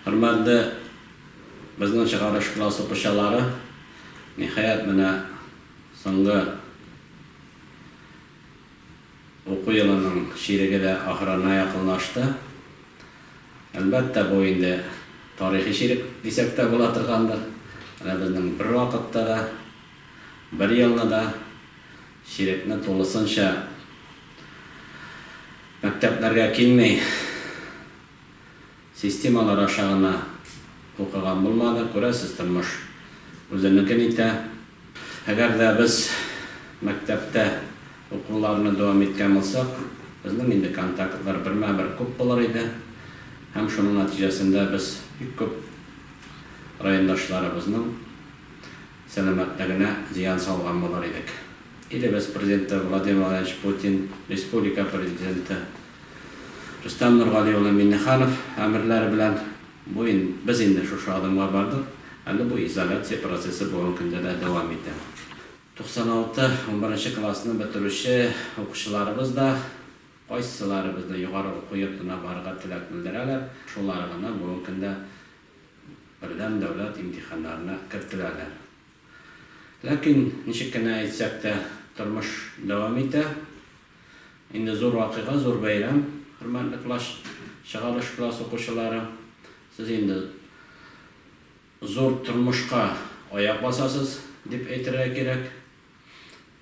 Хөрмәтле безнең чыгарыш класс укучылары! Ниһаять, менә соңгы уку елының чиреге дә ахырына якынлашты. Әлбәттә, бу инде тарихи чирек дисәк тә була торгандыр. Менә безнең бервакытта да, бер елны да чирекне тулысынча мәктәпләргә килми. Системалар аша гына укыган булмады, күрәсез, тормыш үзенекен итә. Әгәр дә без мәктәптә укуларны дәвам иткән булсак, безнең инде контактлар бермә-бер күп булыр иде һәм шуның нәтиҗәсендә без бик күп райондашларыбызның сәламәтлегенә зыян салган булыр идек. Илебез Президенты Владимир Владимирович Путин, республика Президенты, Рөстәм Нургали улы Миннеханов әмерләре белән бу ин без инде шушы адымга бардык, әле бу изоляция процессы бүгенге көндә дә дәвам итә. 96 унберенче классны бетерүче укучыларыбыз да кайсылары безнең югары уку йортына барырга теләк белдерәләр, шулары гына бүгенге көндә бердәм дәүләт имтиханнарына кертеләләр. Ләкин, ничек кенә әйтсәк тә, тормыш дәвам итә. Инде зур вакыйга, зур бәйрәм, хөрмәтле класс чыгарыш класс укучылары. Сез инде зур тормышка аяк басасыз, дип әйтергә кирәк.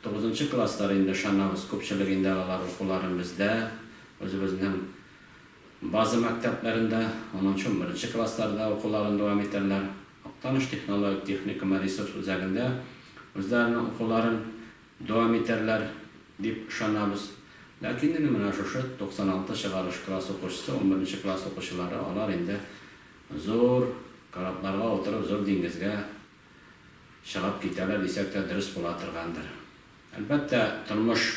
Тугызынчы класслар инде, ышанабыз, күпчелек инде алар укуларын бездә, үзебезнең база мәктәпләрендә, унынчы-унберенче классларда укуларын дәвам итәрләр. Актаныш технологик техникумы ресурс үзәгендә үзләренең укуларын Дәвам итәрләр, дип ышанабыз. Ләкин инде менә шушы 96 чыгарыш класс укучысы, унберенче класс укучылары, алар инде зур корабларга утырып, зур диңгезгә чыгып китәләр дисәк тә дөрес була торгандыр. Әлбәттә, тормыш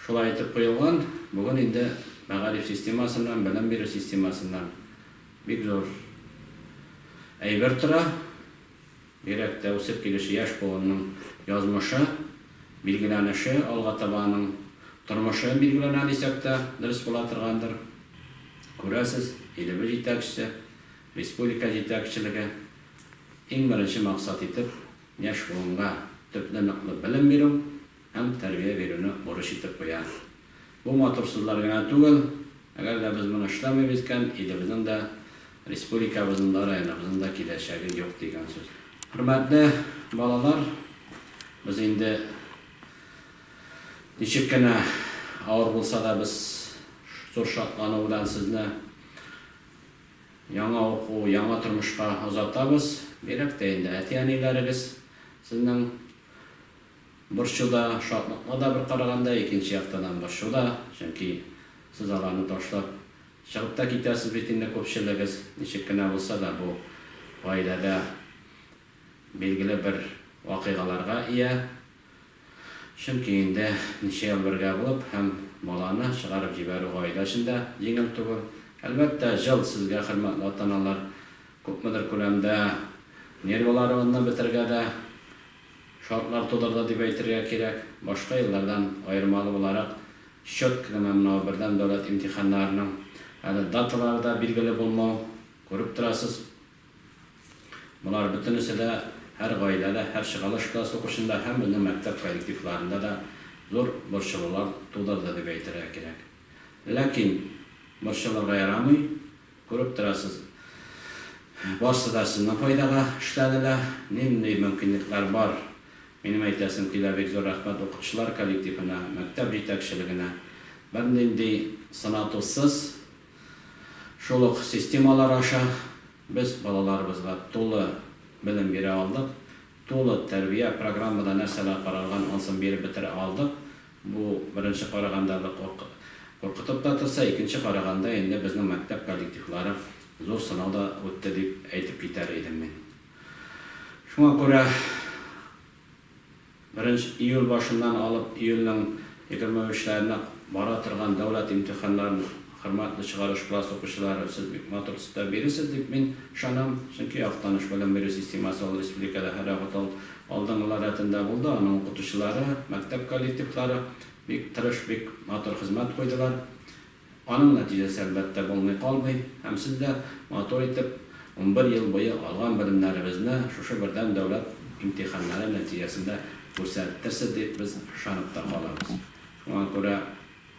Шулай итеп куелган, бүген инде мәгариф системасыннан, белем бирү системасыннан бик зур әйбер тора. Бигрәк тә үсеп килүче яшь буынның язмышы, билгеләнеше, алга таба аның тормышы билгеләнә дисәк тә дөрес була торгандыр. Күрәсез, илебез җитәкчесе, республика җитәкчелеге иң беренче максат итеп яшь буынга төпле-ныклы белем бирү, һәм тәрбия бирүне бурыч итеп куя. Бу матур сүзләр генә түгел, әгәр дә без моны эшләмибез икән, илебезнең дә, республикабызның да, районыбызның да киләчәге юк дигән сүз. Хөрмәтле балалар, без инде ничек кенә авыр булса да, без зур шатлану белән сезне яңа уку, яңа тормышка озатабыз. Бигрәк тә инде әти-әниләрегез сезнең Борчу да, шатлыкны да бер караганда, икенче яктан һәм борчу да, чөнки сез аларны ташлап чыгып та китәсез бит инде күпчелегез, ничек кенә булса да бу гаиләдә билгеле бер вакыйгаларга ия, чөнки инде ничә ел бергә булып һәм баланы чыгарып җибәрү гаилә өчен дә җиңел түгел. Әлбәттә, җыл сезгә, хөрмәтле ата-аналар, күпмедер күләмдә нервыларыгызны бетерергә дә, Шартлар тудырды дип әйтергә кирәк. Башка еллардан аермалы буларак, счет кенә мамнау, бердәм дәүләт имтиханнарының әле даталары да билгеле булмау, күреп торасыз, болар бөтенесе дә һәр гаиләдә, һәр чыгарылыш класс укучында һәм безнең мәктәп коллективларында да зур борчылулар тудырды дип әйтергә кирәк. Ләкин борчылырга ярамый, Күреп торасыз, барсы да сезнең файдага эшләде лә. Нинди мөмкинлекләр бар? Минем әйтәсем килә, бик зур рәхмәт укытучылар коллективына, мәктәп җитәкчелегенә. Бернинди сынатусыз, шул ук системалар аша без балаларыбызга тулы белем бирә алдык, тулы тәрбия, программада нәрсәләр каралган, анысын биреп бетерә алдык. Бу беренче караганда да куркытып та торса, икенче караганда инде безнең мәктәп коллективлары зур сынау да үтте дип әйтеп китәр идем мин. Шуңа күрә беренче июль башыннан алып июльнең егерме өчләренә бара торган дәүләт имтиханнарын Хөрмәтле чыгарыш класс укучылары, сез бик матур цитап биресез дип мин ышанам, чөнки Актаныш белем бирү системасы ул республикада һәрвакыт ал, алдынгылар рәтендә булды, аның укытучылары, мәктәп коллективлары бик тырыш, бик матур хезмәт куйдылар. Аның нәтиҗәсе, әлбәттә, булмый калмый, һәм сез дә матур итеп унбер ел буе алган белемнәребезне шушы бердәм дәүләт имтиханнары нәтиҗәсендә күрсәттерсез дип без ышанып та калабыз. Шуңа күрә.